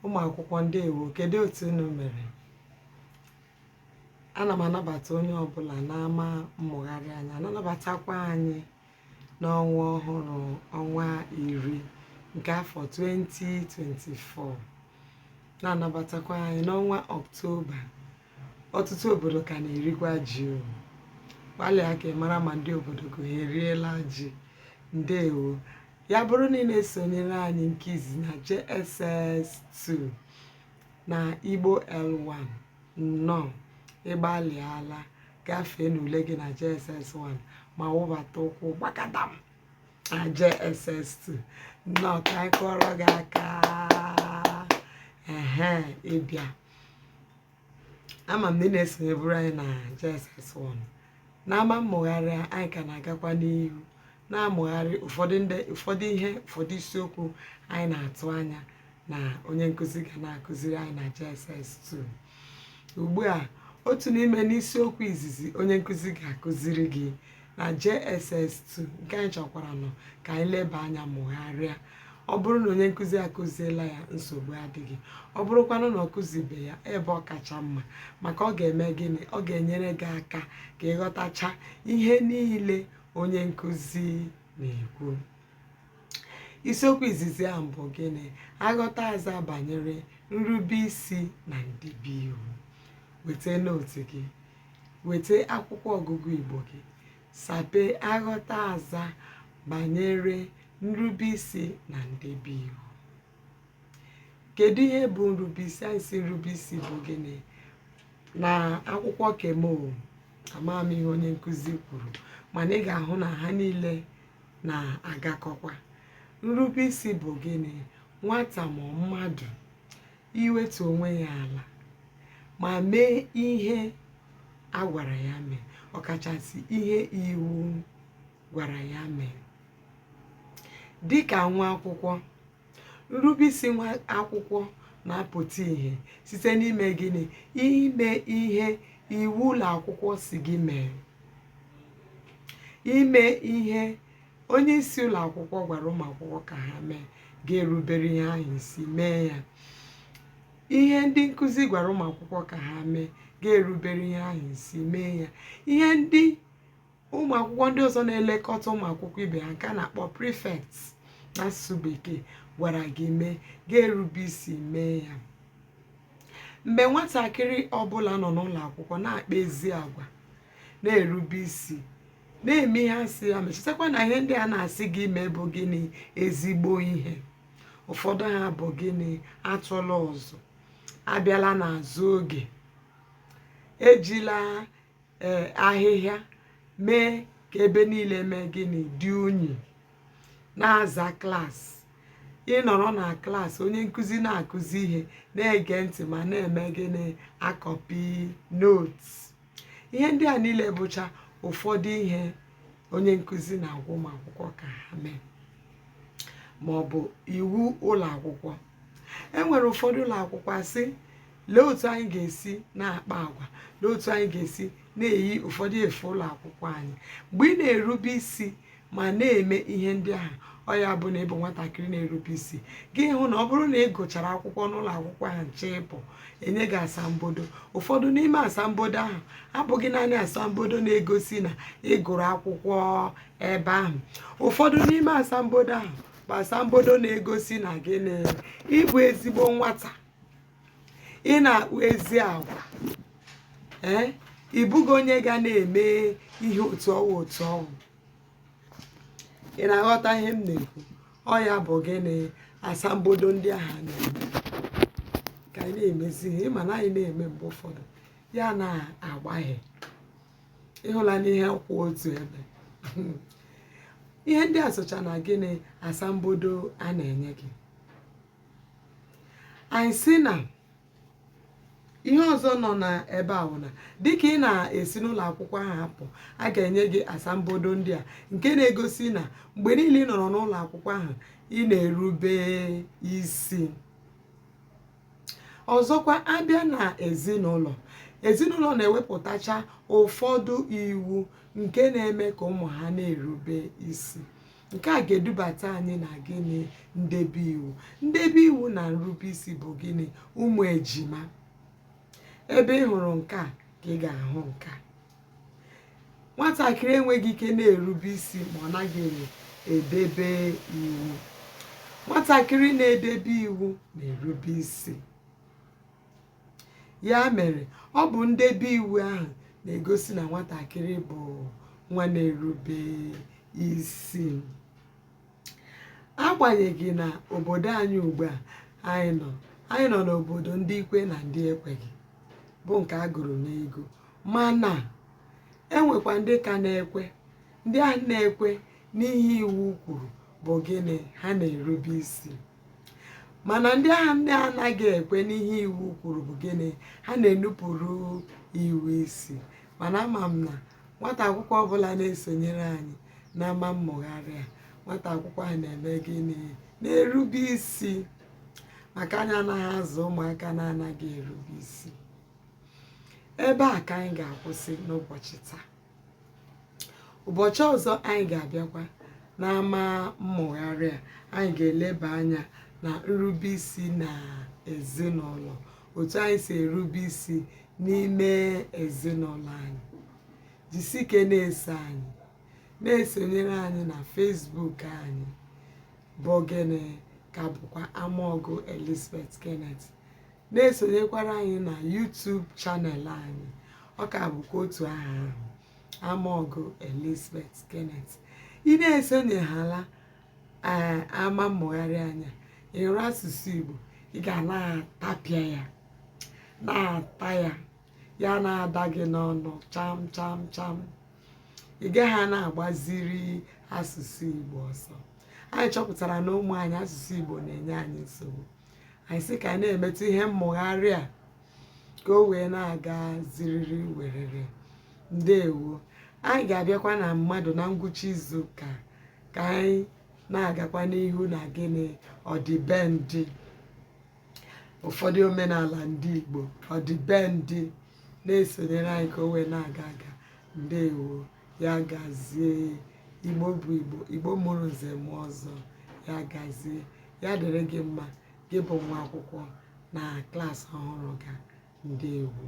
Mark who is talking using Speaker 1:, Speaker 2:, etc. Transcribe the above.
Speaker 1: ụmụ akwụkwọ ndewo kedu otu unu mere ana m anabata onye ọbụla n'ama mmụgharị anyị na-anabatakwa anyị n'ọnwa ọhụrụ ọnwa iri nke afọ 2024 na-anabatakwa anyị n'ọnwa ọktoba ọtụtụ obodo ka na-erikwa ji o gbalịa ka ị mara ma ndị obodo gị ha eriela ji ndewo ya bụrụ na ị na-esonyere anyị nke izi na JSS2 na Igbo L1 nnọọ ị gbalịala gafee n'ule gị na JSS1 ma wụbata ụkwụ gbakadam na JSS2 nnọọ ka anyị kụọrọ gị aka ehe ịbịa ama m na ị na-esonyeburu anyị na JSS1 n'ama mmụgharị anyị ka na-agakwa n'ihu na-amụgharị ụfọdụ ndị ụfọdụ ihe ụfọdụ isiokwu anyị na-atụ anya na onye nkụzi ga na-akụziri anyị na JSS 2 ugbu a otu n'ime n'isiokwu izizi onye nkụzi ga-akụziri gị na JSS 2 nke anyị chọkwaranụ ka anyị leba anya mụgharịa ọ bụrụ na onye nkụzi akụziela ya nsogbu adịghị ọ bụrụkwanụ na ọ kụzibe ya ebe ọ kacha mma maka ọ ga-eme gịnị ọ ga-enyere gị aka ka ị ghọtacha ihe niile onye nkụzi na-ekwu isiokwu izizi ahụ bụ gịnị aghọta aza banyere nrube isi na ndebe iwu weta note gị weta akwụkwọ ọgụgụ igbo gị sapee aghọta aza banyere nrube isi na ndebe iwu kedu ihe bụ nrubeisi anyị sị nrubeisi bụ gịnị na akwụkwọ ke m o amaghị m ihe onye nkụzi kwuru mana ị ga-ahụ na ha niile na-agakọkwa nrubeisi bụ gịnị nwata ma mmadụ iwetu onwe ya ala ma mee ihe a gwara ya mee ọkachasị ihe iwu gwara ya mee dịka nwa akwụkwọ nrubeisi nwa akwụkwọ na-apụta ihe site n'ime gịnị ime ihe iwu ụlọ akwụkwọ sị gị mee ime ihe onye isi ụlọ akwụkwọ gwara ụmụ akwụkwọ ka ha mee ga-erubere ihe ahụ isi mee ya ihe ndị nkụzi gwara ụmụ akwụkwọ ka ha mee ga-erubere ihe ahụ isi mee ya ihe ndị ụmụ akwụkwọ ndị ọzọ na-elekọta ụmụ akwụkwọ ibe ha nke a na-akpọ prefect n'asụsụ bekee gwara gị mee ga-erube isi mee ya mgbe nwatakịrị ọbụla nọ n'ụlọ akwụkwọ na-akpa ezi agwa na-erube isi na-eme ihe asị ya mee chetakwa na ihe ndị a na-asị gị mee bụ gịnị ezigbo ihe ụfọdụ ha bụ gịnị atụla ụzụ abịala n'azụ oge ejila ee ahịhịa mee ka ebe niile mee gịnị dị unyi na-aza klaasị ị nọrọ na klaasị onye nkụzi na-akụzi ihe na-ege ntị ma na-eme gịnị akọpị notes ihe ndị a niile bụcha ụfọdụ ihe onye nkụzi na-agwa ụmụ akwụkwọ ka ha mee ma ọ bụ iwu ụlọ akwụkwọ e nwere ụfọdụ ụlọ akwụkwọ asị lee otu anyị ga-esi na-akpa agwa lee otu anyị ga-esi na-eyi ụfọdụ efe ụlọ akwụkwọ anyị mgbe ị na-erube isi ma na-eme ihe ndị ahụ ọ ya bụ na ị bụ nwatakịrị na-erube isi gị hụ na ọ bụrụ na ị gụchara akwụkwọ n'ụlọ akwụkwọ ahụ na-achọ ịpụ e nye gị asambodo ụfọdụ n'ime asambodo ahụ abụghị naanị asambodo na-egosi na ị gụrụ akwụkwọ ebe ahụ ụfọdụ n'ime asambodo ahụ asambodo na-egosi na gịnị ị bụ ezigbo nwata ị na-akpa ezi agwa ee ị bụghị onye ga na-eme ihe otu ọ wụ otu ọ wụ ị na-aghọta ihe m na-ekwu ọ ya bụ gịnị asambodo ndị ahụ a na-eme ka anyị na-emezi ihe ịma na anyị na-eme mgbe ụfọdụ ya na-agbaghe ị hụla na ihe kwụ otu ebe ihe ndị a socha na gịnị asambodo a na-enye gị anyị sị na ihe ọzọ nọ na ebe a bụ na dịka ị na-esi n'ụlọ akwụkwọ ahụ apụ a ga-enye gị asambodo ndị a nke na-egosi na mgbe niile ị nọrọ n'ụlọ akwụkwọ ahụ ị na-erube isi ọzọkwa abịa na ezinụlọ ezinụlọ na-ewepụtacha ụfọdụ iwu nke na-eme ka ụmụ ha na-erube isi nke a ga-edubata anyị na gịnị ndebe iwu ndebe iwu na nrube isi bụ gịnị ụmụ ejima ebe ị hụrụ nke a ka ị ga-ahụ nke a nwatakịrị enweghị ike na-erube isi ma ọ naghị edebe iwu nwatakịrị na-edebe iwu na-erube isi ya mere ọ bụ ndebe iwu ahụ na-egosi na nwatakịrị bụ nwa na-erube isi agbanyeghị na obodo anyị ugbu a anyị nọ anyị nọ n'obodo ndị kwe na ndị ekweghị bụ nke a gụrụ n'egwu mana enwekwa ndị ka na-ekwe ndị ahụ na-ekwe n'ihe iwu kwuru bụ gịnị ha na-erube isi mana ndị ahụ na-anaghị ekwe n'ihe iwu kwuru bụ gịnị ha na-enupụrụ iwu isi mana ama m na nwata akwụkwọ ọbụla na-esonyere anyị n'ama mmụgharị a nwata akwụkwọ ahụ na-eme gịnị na-erube isi maka anyị anaghị azụ ụmụaka na-anaghị erube isi ebe a ka anyị ga-akwụsị n'ụbọchị taa ụbọchị ọzọ anyị ga-abịakwa n'ama mmụgharị a anyị ga-eleba anya na nrube isi na ezinụlọ otu anyị si erube isi n'ime ezinụlọ anyị jisike na-eso anyị na-esonyere anyị na Facebook anyị bụ gịnị ka bụkwa Amaọgụ Elizabeth Kenneth na-esonyekwara anyị na YouTube channel anyị ọ ka bụkwa otu aha ahụ Amaọgụ Elizabeth Kenneth ị na-esonyeghala ee eh, ama mmụgharị anyị a ị hụrụ asụsụ Igbo ị ga na-atapịa ya na-ata ya ya na-ada gị n'ọnụ cham cham cham ị gaghị na-agbaziri asụsụ Igbo ọsọ anyị chọpụtara na ụmụ anyị asụsụ Igbo na-enye anyị nsogbu anyị sị ka anyị na-emetụ ihe mmụgharị a ka o wee na-aga ziriri werere ndewo anyị ga-abịakwa na mmadụ na ngwụcha izu ụka ka anyị na-agakwa n'ihu na gịnị ọdịbendị ụfọdụ omenala ndị Igbo ọdịbendị na-esonyere anyị ka o wee na-aga aga ndewo ya gazie Igbo bụ Igbo Igbo mụrụ nze mụọ ọzọ ya gazie ya dịrị gị mma gị bụ nwa akwụkwọ na klaasị ọhụrụ gị a ndewo